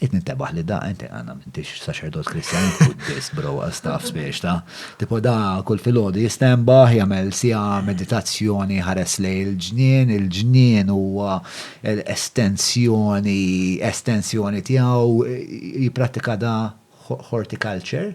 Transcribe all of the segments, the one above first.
Qed nintebaħ li da, inti għana m'intix saċerdot Kristjan, Buddist, bro, għastaf spiex ta. Tipo da kull filgħodu jistembaħ, jagħmel sija meditazzjoni ħares lej il-ġnien, il-ġnien huwa estensjoni, estensjoni tiegħu, jipprattika da horticulture,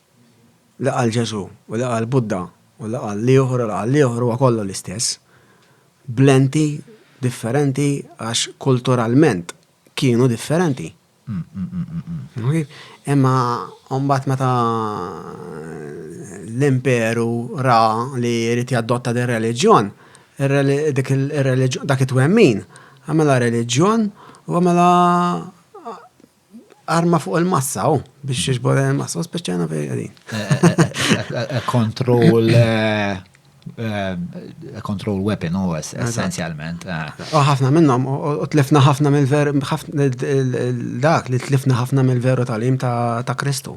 li qal Ġesù u li qal Buddha u li qal l-ieħor u li qal l-ieħor huwa kollu l-istess, b'lenti differenti għax kulturalment kienu differenti. Imma mbagħad meta l-imperu ra li jrid jadotta din reliġjon, dak it-twemmin għamela reliġjon u għamela arma fuq il-massa, u biex jiġbor il-massa, u speċjana fej għadin. Control, control weapon, u essenzjalment. U ħafna minnom, u tlifna ħafna mill-ver, dak li tlifna ħafna mill-veru tal-im ta' Kristu.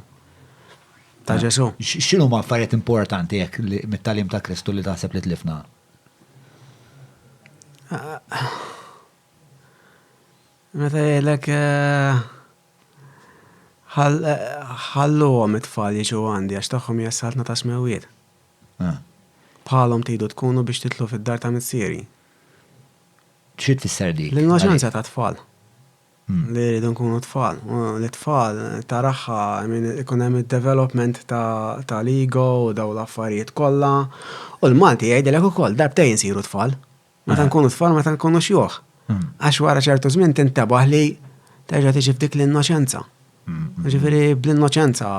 Ta' Ġesu. Xinu ma' affarijiet importanti jek mit-talim ta' Kristu li taħseb li tlifna? Meta jgħidlek ħalluhom it-tfal jiġu għandi għax tagħhom hija s-Saltna tas-Smewwiet. Bħalhom tridu tkunu biex titlu fid-dar ta' Missieri. Xi tfisser dik? L-innoċenza tat-tfal. Li jridu nkunu tfal. L-tfal taraha minn ikun hemm id-development tal-ego u daw l-affarijiet kollha. U l-Malti jgħidilek ukoll darbtejn insiru tfal. Meta eh. nkunu tfal meta nkunu xjuħ. Hmm. Għax wara ċertu żmien tintebaħ li terġa' tiġi f'dik l-innoċenza. Hmm. Ġifieri bl-innoċenza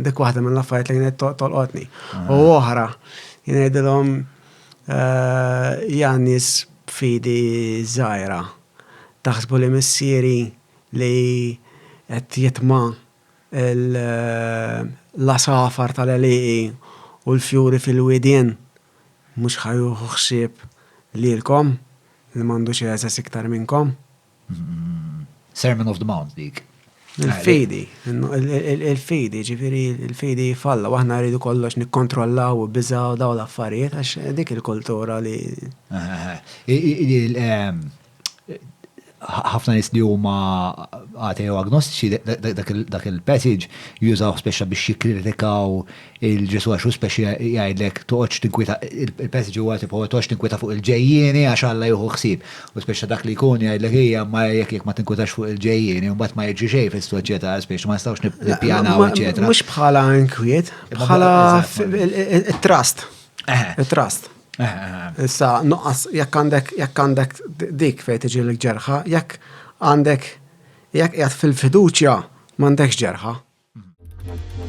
dik waħda mill-affarijiet li kienet tolqotni. Eh. U oħra jgħidilhom eh, Janis fidi żgħira taħsbu li missieri li qed jitma' l-għasafar tal-għelieqi u l-fjuri fil-widien mhux ħa jieħu ħsieb lilkom li m'għandux għeżeż iktar minnkom. Sermon of the Mount dik. Il-fidi, il-fidi, ġifiri, il-fidi jifalla, u aħna rridu kollox nikkontrollaw u biżaw daw l-affarijiet, għax dik il-kultura li. ħafna nies li huma ateo agnostiċi dak il-passage jużaw speċa biex jikkritikaw il-Ġesu għax speċa jgħidlek toqgħodx tinkwita il-passage huwa tipo toqgħodx tinkwita fuq il-ġejjieni għax Alla jieħu ħsieb. U speċa dak li jkun jgħidlek hija ma jekk jekk ma tinkwitax fuq il-ġejjieni mbagħad ma jiġri xejn fis-soċjetà speċa ma nistgħux nippjanaw eċetera. Mhux bħala inkwiet, bħala trust. Trust. Issa, nuqqas, jekk għandek, jekk għandek dik fejn tiġi l-ġerħa, jekk għandek, jekk qiegħed fil-fiduċja, m'għandekx ġerħa.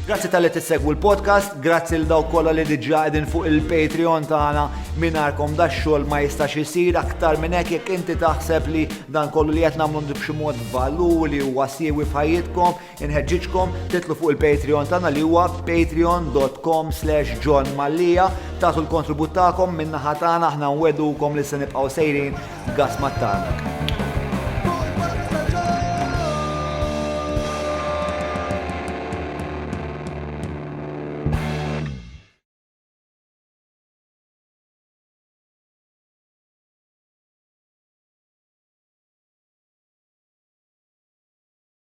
Grazzi tal-li tissegwu l-podcast, grazzi l daw kolla li diġa għedin fuq il-Patreon tagħna minarkom da xogħol ma jistax isir aktar minn hekk jekk inti taħseb li dan kollu li qed nagħmlu b'xi mod valur li huwa siewi f'ħajjitkom Inħeġġiġkom titlu fuq il-Patreon tagħna li huwa patreon.com slash John Mallia tagħtu l-kontribut tagħkom minn naħa tagħna aħna nwedukom li se nibqgħu sejrin gas mat-tarnak.